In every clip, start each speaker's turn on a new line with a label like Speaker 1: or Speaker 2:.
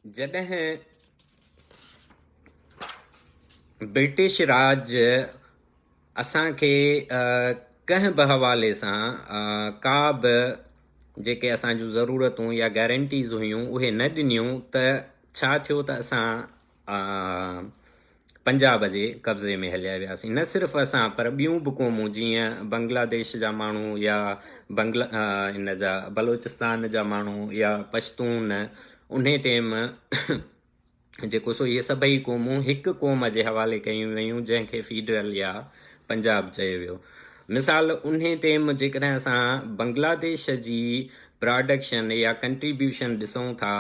Speaker 1: جڏهن برٽش راڄ اسان کي ڪنهن به حوالي سان ڪا به جيڪي اسان جون ضرورتون يا گيرنٽيز هيون اهي نه ڏنيون ته ڇا ٿيو ته اسان پنجاب جي قبضي ۾ هليا وياسين نه صرف اسان پر ٻيون به قومون جيئن بنگلاديش جا ماڻهو يا بنگلا ان جا بلوچستان جا ماڻهو يا پشتون ان ٽيم جيڪو سو اهي سڀئي قومون هڪ قوم جي حوالي ڪيون ويون جنهن کي فيڊرل يا پنجاب چيو ويو مثال ان ٽيم جيڪڏهن اسان بنگلاديش جي پراڊڪشن يا ڪنٽريبيوشن ڏسون ٿا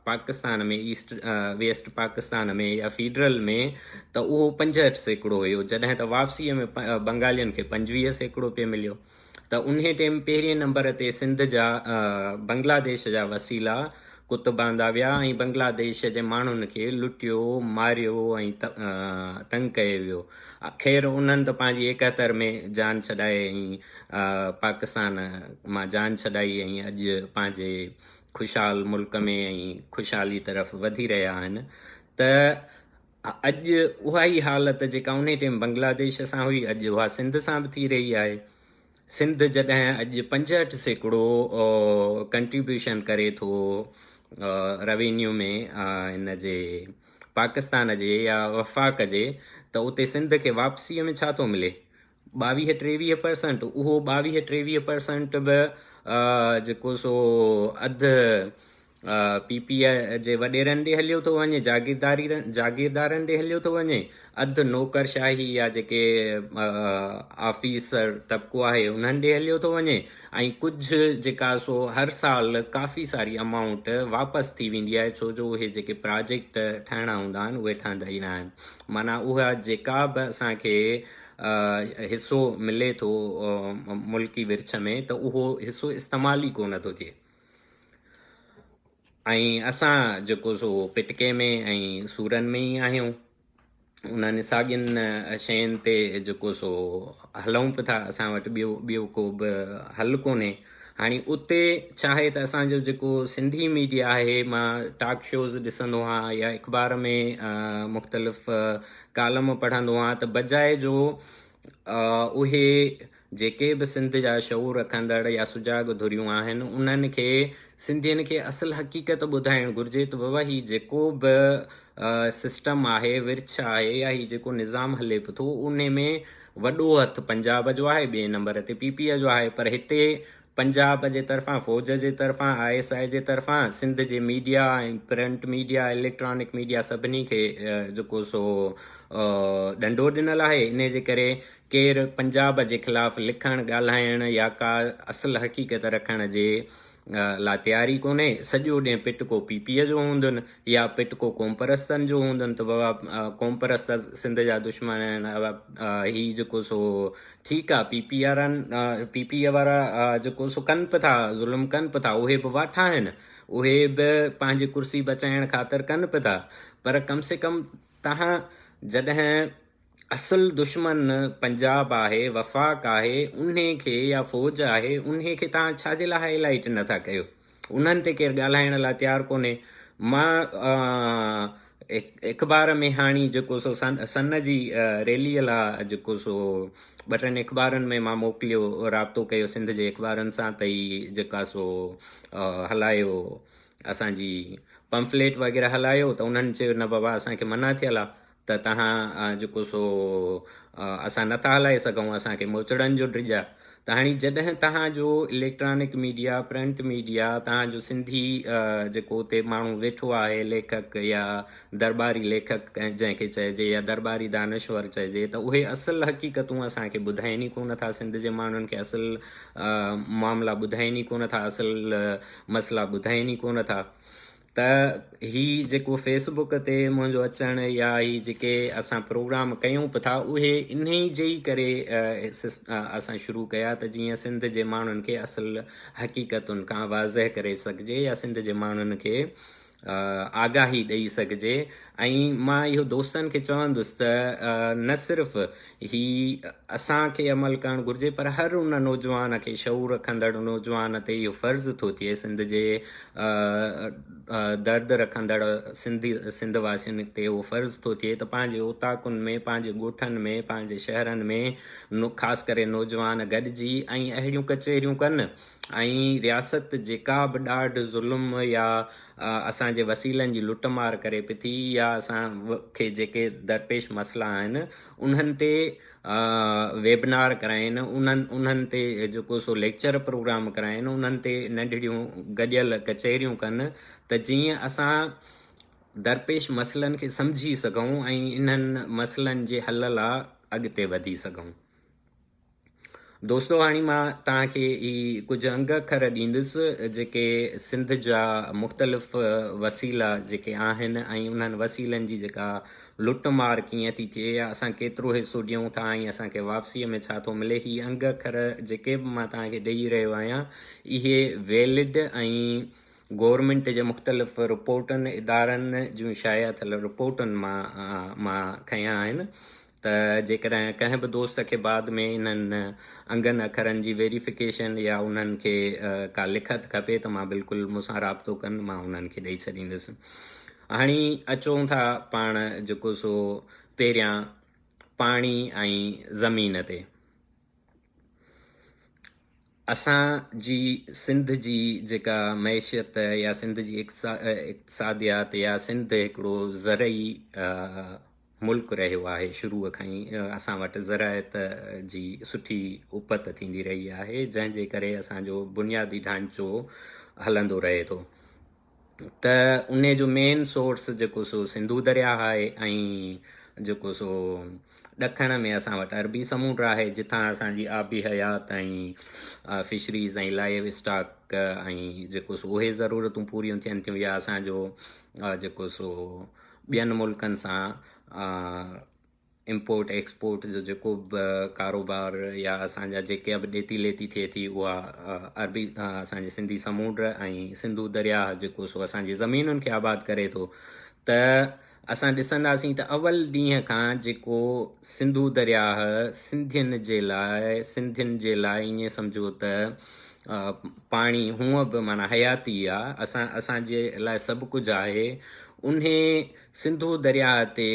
Speaker 1: پاڪستان ۾ ايسٽ ويسٽ پاڪستان ۾ يا فيڊرل ۾ ته اهو پنجهٺ سيڪڙو هيو جڏهن ته واپسيء ۾ بنگالين کي پنجويهه سيڪڙو پئي مليو ته انهي ٽيم پهرين نمبر تي سنڌ جا بنگلاديش جا وسيلا ڪت باندا ويا ۽ بنگلاديش جي ماڻهن کي لٽيو ماريو ۽ تنگ ڪيو ويو خير انهن ته پنهنجي ايڪهتر ۾ جان ڇڏائي ۽ پاڪستان مان جان ڇڏائي ۽ اڄ پنهنجي خوشحال ملڪ ۾ ۽ خوشحالي طرف وڌي رهيا آهن ته اڄ اها ئي حالت جيڪا انهي ٽيم بنگلاديش سان هئي اڄ اها سنڌ سان به ٿي رهي آهي سنڌ جڏهن اڄ پنجهٺ سيڪڙو ڪنٽريبيوشن ڪري ٿو روينيو ۾ ان جي پاڪستان جي يا وفاق جي ته اتي سنڌ کي واپسيء ۾ ڇا ٿو ملي ٻاويهه ٽيويهه پرسنٽ اهو ٻاويهه ٽيويهه پرسنٽ به جيڪو سو اڌ پي پي اي جي وڏيرن ڏي هليو ٿو وڃي جاگيرداري جاگيردارن ڏي هليو ٿو وڃي اڌ نوڪرشاهي يا جيڪي آفيسر طبقو آهي انهن ڏي هليو ٿو وڃي ۽ ڪجهه جيڪا سو هر سال ڪافي ساري امائونٽ واپس ٿي ويندي آهي ڇو جو اهي جيڪي پراجيڪٽ ٺاهڻا هوندا آهن اهي ٺهندا ئي ناهن معنيٰ اها جيڪا به اسانکي حصو ملي ٿو ملڪي ورڇ ۾ ته اهو حصو استعمال ئي ڪونه ٿو ٿئي ۽ اسان جيڪو سو پٽڪي ۾ ۽ سورن ۾ ئي آهيون انهن ساڳين شين تي جيڪو سو هلون به ٿا اسان وٽ ٻيو ٻيو ڪو به حل ڪونهي هاڻي اتي ڇا آهي ته اسانجو جيڪو سنڌي ميڊيا آهي مان ٽاڪ شوز ڏسندو آهيان يا اخبار ۾ مختلف ڪالم پڙهندو آهيان ته بجاء جو اهي جيڪي به سنڌ جا شعور رکندڙ يا سجاڳ ڌريون آهن انهن کي سنڌين کي اصل حقيقت ٻڌائڻ گهرجي ته بابا هي جيڪو به سسٽم آهي ورڇ آهي يا هي جيڪو نظام هلي به ٿو ان ۾ وڏو هٿ پنجاب جو آهي ٻئي نمبر تي پي پي آء جو آهي پر هتي پنجاب جي طرفان فوج جي طرفان آء ايس آء جي طرفان سنڌ جي media ۽ print media electronic media سڀني کي جيڪو سو ڏنڊو ڏنل آهي انهي جي ڪري ڪير پنجاب جي خلاف لکڻ، ڳالهائڻ يا ڪا اصل حقيقت رکڻ جي لا تياري ڪونهي. سڄو ڏينهن پٽڪو پي پيء جو هوندن يا پٽڪو قومپرستن جو هوندن ته بابا قومپرست سنڌ جا دشمن آهن هي جيڪو سو ٺيڪ آ P P R P P E وارا جيڪو سو ڪن به ٿا ظلم ڪن به ٿا اهي به واٺا آهن اهي به پنهنجي ڪرسي بچائڻ خاطر ڪن به ٿا پر ڪم سي ڪم تهان جڏهن اصل دشمن پنجاب آهي، وفاق آهي، انهي کي يا فوج آهي انهي کي توهان ڇا جي لاء هائي لائيٽ نه ٿا ڪيو؟ انهن تي ڪير ڳالهائڻ لاء تيار ڪونهي. مان اخبار ۾ هاڻي جيڪو سو سن جي ريلي لا جيڪو سو ٻه ٽن اخبارن ۾ مان موڪليو رابطو ڪيو سنڌ جي اخبارن سان ته هي جيڪا سو هلايو اسان جي پمفليٽ وغيره هلايو ته انهن چيو نه بابا اسان کي منع ٿيل آهي ته تهان جيڪو سو اسان نٿا هلائي سگهون، اسان کي موچڙن جو ڊڄ آ. ته هاڻي جڏهن تهان جو اليڪٽرانڪ ميڊيا، پرنٽ ميڊيا، تهان جو سنڌي جيڪو اتي ماڻهو ويٺو آهي ليکڪ يا درٻاري ليکڪ جنهن کي چئجي يا درٻاري دانشور چئجي ته اهي اصل حقيقتون اسان کي ٻڌائين ئي ڪو نه ٿا، سنڌ جي ماڻهن کي اصل معاملا ٻڌائين ئي ڪو نه ٿا، اصل مسئلا ٻڌائين ئي ڪو نه ٿا. ته هي جيڪو فيس بوڪ تي منهنجو اچڻ يا هي جيڪي اسان پروگرام ڪيون به ٿا اهي انهي جي ئي ڪري اسان شروع ڪيا ته جيئن سنڌ جي ماڻهن کي اصل حقيقتن کان واضح ڪري سگهجي يا سنڌ جي ماڻهن کي آگاهي ڏئي سگهجي ۽ مان اهو دوستن کي چوندس ته نه صرف هي اسان کي عمل ڪرڻ گهرجي پر هر ان نوجوان کي شعور رکندڙ نوجوان تي اهو فرض ٿو ٿئي سنڌ جي درد رکندڙ سنڌي سنڌ واسين تي اهو فرض ٿو ٿئي ته پنهنجي اوطاقن ۾ پنهنجي ڳوٺن ۾ پنهنجي شهرن ۾ خاص ڪري نوجوان گڏجي ۽ اهڙيون ڪچهريون ڪن ۽ رياست جيڪا به ڏاڍ ظلم يا اها اسان جي وسيلن جي لٽ مار ڪري پئي ٿي يا اسان کي جيڪي درپيش مسئلا آهن انهن تي ويبنار ڪرائين انهن انهن تي جيڪو سو ليڪچر پروگرام ڪرائين انهن تي ننڍڙيون گڏيل ڪچهريون ڪن ته جيئن اسان درپيش مسئلن کي سمجهي سگهون ۽ انهن مسئلن جي حل لا اڳتي وڌي سگهون. دوستو هاڻي مان توهان کي هي ڪجهه انگ اکر ڏيندس جيڪي سنڌ جا مختلف وسيلا جيڪي آهن ۽ انهن وسيلن جي جيڪا لٽ مار ڪيئن ٿي ٿئي يا اسان ڪيترو حصو ڏيون ٿا ۽ اسان کي واپسيء ۾ ڇا ٿو ملي هي انگ اکر جيڪي به مان توهان کي ڏيئي رهيو آهيان اهي ويلڊ ۽ گورنمنٽ جي مختلف رپورٽن ادارن جون شايع ٿيل رپورٽن مان مان کنيا آهن ته جيڪڏهن ڪنهن به دوست کي بعد ۾ انهن انگن اکرن جي ويريفڪيشن يا انهن کي ڪا لکت کپي ته مان بلڪل مون سان رابطو ڪن مان انهن کي ڏئي ڇڏيندس. هاڻي اچون ٿا پاڻ جيڪو سو پهريان پاڻي ۽ زمين تي. اسان جي سنڌ جي جيڪا معيشت يا سنڌ جي اقتصاديات يا سنڌ هڪڙو زرعي ملڪ رهيو آهي شروع کان ئي اسان وٽ زراعت جي سٺي اپت ٿيندي رهي آهي جنهن جي ڪري اسان جو بنيادي ڍانچو هلندو رهي ٿو ته انهي جو مين سورس جيڪو سو سنڌو درياهه آهي ۽ جيڪو سو ڏکڻ ۾ اسان وٽ عربي سمونڊ آهي جتان اسان جي آبي حيات ۽ فشريز ۽ لائيو اسٽاڪ ۽ جيڪو سو اهي ضرورتون پوريون ٿين ٿيون يا اسان جو جيڪو سو ٻين ملڪن سان امپورٽ ايڪسپورٽ جو جيڪو به ڪاروبار يا اسان جا جيڪا به ڏيتي ليتي ٿئي ٿي اها عربي اسان جي سنڌي سمونڊ ۽ سنڌو درياهه جيڪو سو اسان جي زمينن کي آباد ڪري ٿو ته اسان ڏسنداسين ته اول ڏينهن کان جيڪو سنڌو درياهه سنڌين جي لاء سنڌين جي لاء ائين سمجهو ته پاڻي هونء به معنی حياتي آ اسان اسان جي لاء سڀ ڪجهه آهي انهي سنڌو درياهه تي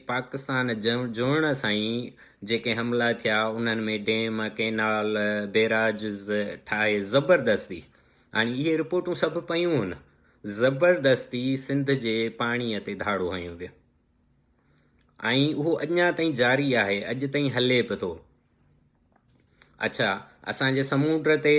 Speaker 1: پاڪستان جوڙڻ سان ئي جيڪي حملا ٿيا انهن ۾ ڊيم، ڪينال، بيراجز ٺاهي زبردستي هاڻي اهي رپورٽون سڀ پيون هن زبردستي سنڌ جي پاڻي تي ڌاڙو هنيو ويو ۽ اهو اڃا تائين جاري آهي اڄ تائين هلي به ٿو. اڇا اسان جي سمونڊ تي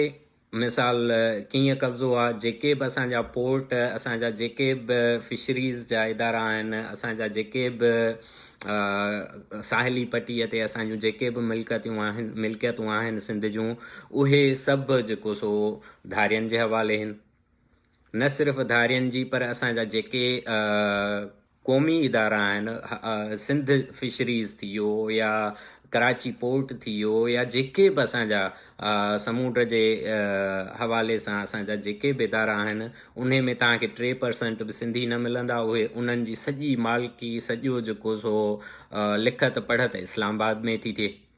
Speaker 1: مثال ڪيئن قبضو آ جيڪي به اسان جا پورٽ اسان جا جيڪي به فشريز جا ادارا آهن اسان جا جيڪي به ساحلي پٽي تي اسان جون جيڪي به ملڪتيون آهن ملڪيتون آهن سنڌ جون اهي سڀ جيڪو سو ڌارين جي حوالي هن نه صرف ڌارين جي پر اسان جا جيڪي قومي ادارا آهن سنڌ فشريز ٿي ويو يا ڪراچي پورٽ ٿي ويو يا جيڪي به اسان جا سمونڊ جي حوالي سان اسان جا جيڪي به ادارا آهن انهي ۾ توهان کي ٽي پرسنٽ به سنڌي نه ملندا اهي انهن جي سڄي مالڪي سڄو جيڪو سو لکت پڙهت اسلام آباد ۾ ٿي ٿئي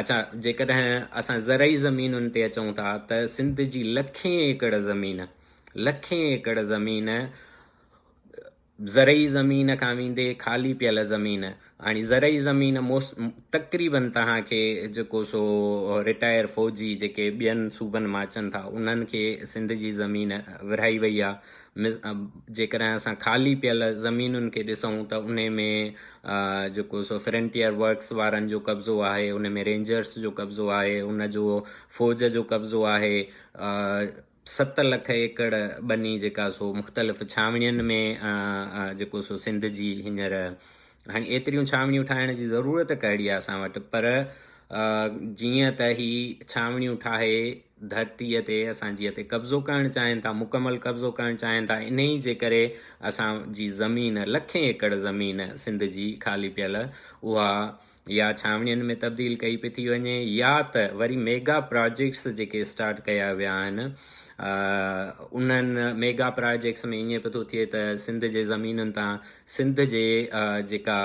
Speaker 1: اچا جيڪڏهن اسان زرعي زمينن تي اچون ٿا ته سنڌ جي لکين ايڪڙ زمين لکين ايڪڙ زمين زرعي زمين کان ويندي خالي پيل زمين هاڻي زرعي زمين موس تقريبن توهان کي جيڪو سو رٽائر فوجي جيڪي ٻين صوبن مان اچن ٿا انهن کي سنڌ جي زمين ورهائي وئي آ جيڪڏهن اسان خالي پيل زمينن کي ڏسون ته انهي ۾ جيڪو سو فرنٽيئر ورڪس وارن جو قبضو آهي انهي ۾ رينجرس جو قبضو آهي ان جو فوج جو قبضو آهي ست لک ايڪڙ ٻني جيڪا سو مختلف ڇانوڻين ۾ جيڪو سو سنڌ جي هينئر هاڻي ايتريون ڇانوڻيون ٺاهڻ جي ضرورت ڪهڙي آهي اسان وٽ پر جيئن ته هي ڇانوڻيون ٺاهي ڌرتيء تي اسان جي تي قبضو ڪرڻ چاهين ٿا مڪمل قبضو ڪرڻ چاهين ٿا انهي جي ڪري اسان جي زمين لکين ايڪڙ زمين سنڌ جي خالي پيل اها يا ڇانوڻين ۾ تبديل ڪئي پئي ٿي وڃي يا ته وري ميگا پراجيڪٽس جيڪي اسٽارٽ ڪيا ويا آهن انهن ميگا پراجيڪٽس ۾ ائين پئي ٿو ٿئي ته سنڌ جي زمينن تان سنڌ جي جيڪا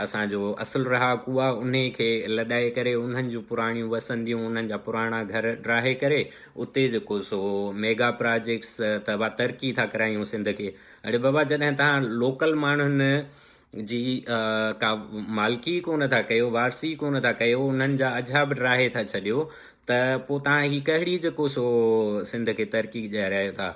Speaker 1: اسان جو اصل رهاڪو آ انهي کي لڏائي ڪري انهن جون پراڻيون وسنديون انهن جا پراڻا گهر ڊاهي ڪري اتي جيڪو سو ميگا پراجيڪس ته وا ترقي ٿا ڪرايون سنڌ کي اڙي بابا جڏهن تهان لوڪل ماڻهن جي ڪا مالڪي ڪو نه ٿا ڪيو وارثي ڪو نه ٿا ڪيو انهن جا اجها به ڊاهي ٿا ڇڏيو ته پوء توهان هي ڪهڙي جيڪو سو سنڌ کي ترقي ڏياري آهيو ٿا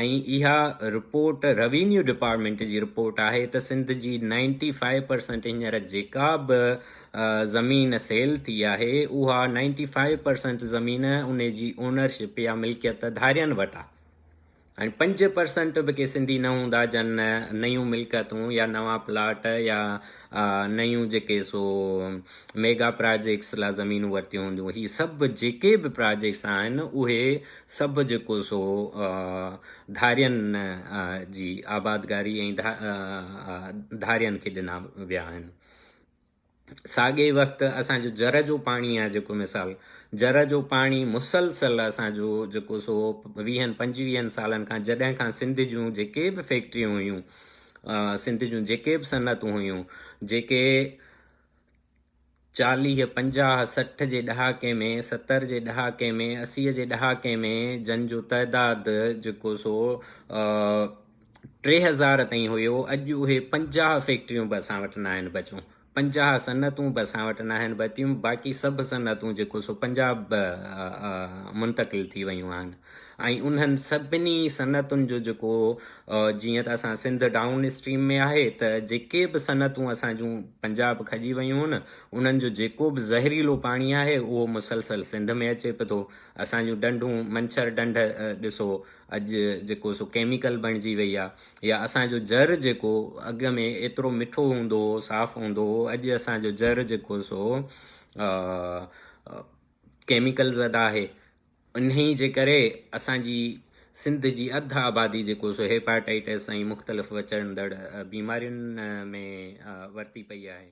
Speaker 1: ۽ اها رپورٽ روينيو ڊپارٽمينٽ جي رپورٽ آهي ته سنڌ جي نائنٽي فائيو پرسنٽ هينئر جيڪا به زمين سيل ٿي آهي اها نائنٽي فائيو پرسنٽ زمين انهي جي اونرشپ يا ملڪيت ڌارين وٽ آهي ۽ پنج پرسنٽ به ڪي سنڌي نه هوندا جن نيون ملڪيتون يا نوان پلاٽ يا نيون جيڪي سو ميگا پراجيڪس لا زمينون ورتيون هونديون هي سڀ جيڪي به پراجيڪس آهن اهي سڀ جيڪو سو ڌارين جي آبادگاري ۽ ڌارين کي ڏنا ويا آهن ساڳئي وقت اسان جو جر جو پاڻي آهي جيڪو مثال جر جو پاڻي مسلسل اسان جو جيڪو سو ويهن پنجويهن سالن کان جڏهن کان سنڌ جون جيڪي به فيڪٽريون هيون سنڌ جون جيڪي به صنعتون هيون جيڪي چاليھ پنجاهه سٺ جي ڏهاڪي ۾ ستر جي ڏهاڪي ۾ اسيء جي ڏهاڪي ۾ جن جو تعداد جيڪو سو ٽي هزار تائين هيو، اڄ اهي پنجاهه فيڪٽريون به اسان وٽ ناهن بچيون، پنجاهه صنعتون به اسان وٽ ناهن بچيون، باقي سڀ صنعتون جيڪو سو پنجاب به منتقل ٿي ويون آهن ۽ انهن سڀني صنعتن جو جيڪو جيئن ته اسان سنڌ ڊائون اسٽريم ۾ آهي ته جيڪي به صنعتون اسان جون پنجاب کڄي ويون آهن انهن جو جيڪو به زهريلو پاڻي آهي اهو مسلسل سنڌ ۾ اچي پئي ٿو اسان جون ڊنڊون منڇر ڊنڊ ڏسو اڄ جيڪو سو ڪيميڪل بڻجي وئي آ يا اسان جو زر جيڪو اڳ ۾ ايترو مٺو هوندو هو صاف هوندو هو اڄ اسان جو زر جيڪو سو ڪيميڪل زده آهي انهي جي ڪري اسان جي سنڌ جي اڌ آبادي جيڪو سو هيپاٽائٽس ۽ مختلف وچڙندڙ بيمارين ۾ ورتي پئي آهي